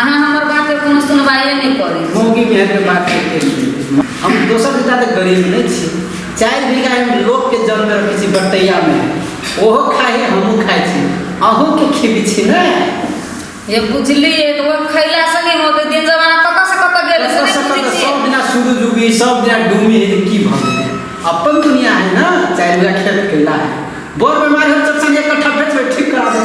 अहाँ हमर बात के कोनो सुनवाइए नहि करी मौगी के के बात करते हैं। हम दोसर से ज्यादा गरीब नहीं छी चार बीघा हम लोग के जन्म रखे छी बटैया में ओहो खाए हमहू खाए छी अहू के खिबी छी ने ये बुझलिए तो वो खैला से नहीं होते दिन जमाना कत से कत गेल से नहीं सब बुझै छियै। दिना शुरू डूबी सब दिना डूबी है की भऽ गेलै अपन दुनिया है ना चार बीघा खेत कैला है बड़ बीमारी हो चचा एक कट्ठा बेच बेच ठीक करा दे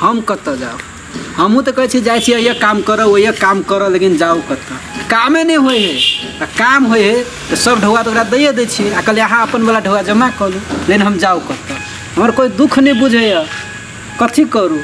हम कतऽ जाउ हमहूँ तऽ कहै छी जाइ छी अइए काम करऽ ओइए काम करऽ लेकिन जाउ कतऽ कामे नहि होइ हइ आ काम होइ हइ तऽ सब ढौआ तऽ ओकरा दैए दै छियै आ कहलियै अहाँ अपनवला ढौआ जमा कऽ लू लेकिन हम जाउ कतऽ हमर कोइ दुःख नहि बुझैए कथी करू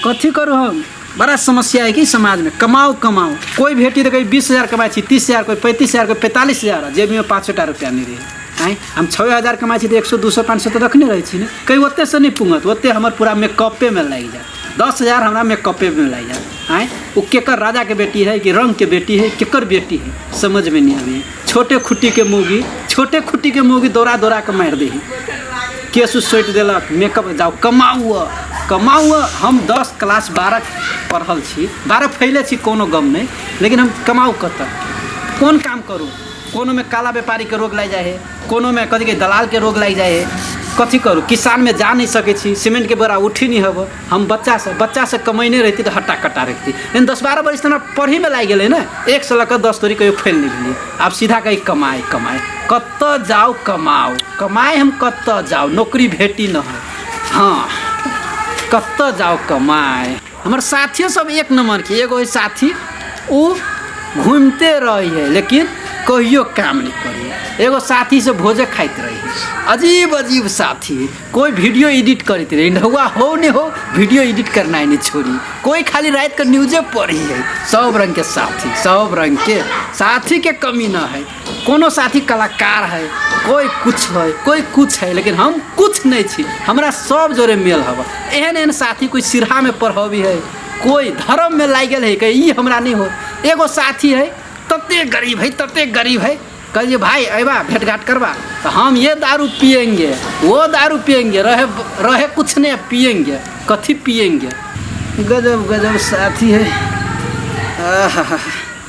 कथी करू हम बड़ा समस्या है कि समाजमे कमाउ कमाउ कोइ भेटी तऽ कभी बीस हजार कमाइ छी तीस हजार कोइ पैंतीस हजार कोइ पैंतालिस हजार आ जेबीमे पाँच सए टा रुपैआ नहि रहै आँय हम छओ हजार कमाइ छी तऽ एक सए दू सए पाँच सए तऽ रखने रहै छी ने कहीं ओतेसँ नहि पुङ्गत ओते हमर पूरा मेकअपेमे लागि जायत दस हजार हमरा मेकअपेमे लागि जायत आँय ओ केकर राजाके बेटी है कि रङ्गके बेटी है केकर बेटी है समझमे नहि अबैए छोटे खुट्टीके मौगी छोटे खुट्टीके मौगी दौड़ा दौड़ा कऽ मारि दै है केस सोटि देलक मेकअप जाउ कमाउ कमाउ हम दस क्लास बारह पढ़ल छी बारह फैले छी कोनो गम नहि लेकिन हम कमाउ कतय कोन काम करू कोनो में काला व्यापारी के रोग लागि जाइ है कोनो में कथी के दलाल के रोग लागि जाइ है कथी करू किसान में जा नहीं सके छी सीमेंट के बोरा उठी नहीं हब हम बच्चा से बच्चा से कमैने रहती तो हट्टा कट्टा रहती लेकिन दस बारह बरिस हमरा पढ़ी में लागि गेलै ने एक से लऽ दस तोरी कहियो फैल नहीं भेलियै आब सीधा कही कमाए कमाए कत जाओ कमाओ कमाए हम कत जाओ नौकरी भेटी न है हाँ कत जाओ कमाए हमर साथियो सब एक नंबर के एगो साथी उ घूमते रही है लेकिन कहियो काम नहीं करी एगो साथी से भोजे खाइत रही अजीब अजीब साथी कोई वीडियो एडिट करते रही नहुआ हो नहीं हो वीडियो एडिट करना ही नहीं छोड़ी कोई खाली रात के न्यूजे पढ़ी है सब रंग के साथी सब रंग के साथी के कमी ना है कोनो साथी कलाकार है कोइ किछु है कोइ किछु है लेकिन हम किछु नहि छी हमरा सब जोरे मेल हब एहन एहन साथी कोइ सिरहामे पढ़बी है कोइ धर्ममे लागि गेल है कि ई हमरा नहि हो एगो साथी है तते गरीब है तते गरीब है कहलिए भाई अबा भेट घाट करबा तो हम ये दारू पियेंगे वो दारू पियेंगे रहे रहे कुछ नहीं पियेंगे कथी पियेंगे गजब गजब साथी है आहा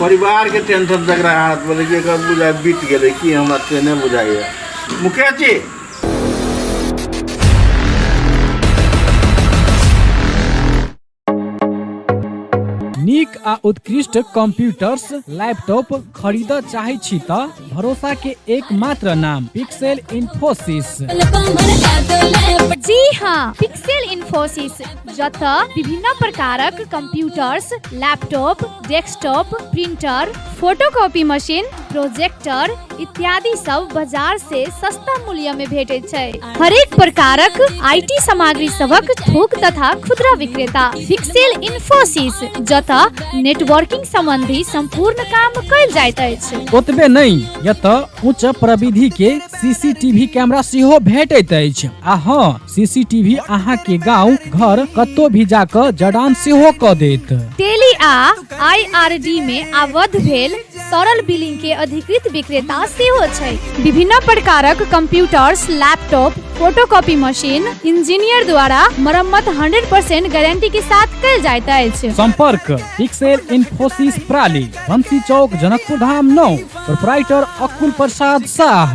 परिवारके टेंशन जकरा हाथ बोलै छै एकर बुझाइ बीत गेलै कि हमरा से नहि बुझाइए मुकेश जी नीक आ उत्कृष्ट कंप्यूटर्स लैपटॉप खरीद चाहे छी त भरोसा के एकमात्र नाम पिक्सेल इन्फोसिस जी हाँ पिक्सेल इन्फोसिस जतय विभिन्न प्रकारक computers laptop desktop printer photocopy machine projector इत्यादि सब बाजार से सस्ता मूल्य में भेटैत छै हरेक प्रकारक आईटी सामग्री सबक थोक तथा खुदरा विक्रेता फिक्सेल इन्फोसिस जतय नेटवर्किंग संबंधी संपूर्ण काम कयल जाइत अछि ओतबे नहि एतऽ उच्च प्रविधि के सीसीटीवी कैमरा सेहो भेटैत अछि आ हँ सीसीटीवी अहाँ के गांव घर कत्तो भी जाकर जडान सेहो क देत टेली आ आईआरडी मे आबद्ध भेल सरल बिलिंग के अधिकृत विक्रेता सेहो छै विभिन्न प्रकारक computers laptop photocopy machine engineer द्वारा मरम्मत 100% गारंटी के साथ कल जाइत अछि संपर्क पिक्सेल इन्फोसिस प्राली बंसी चौक जनकपुर धाम नौ प्रोपराइटर अकुल प्रसाद शाह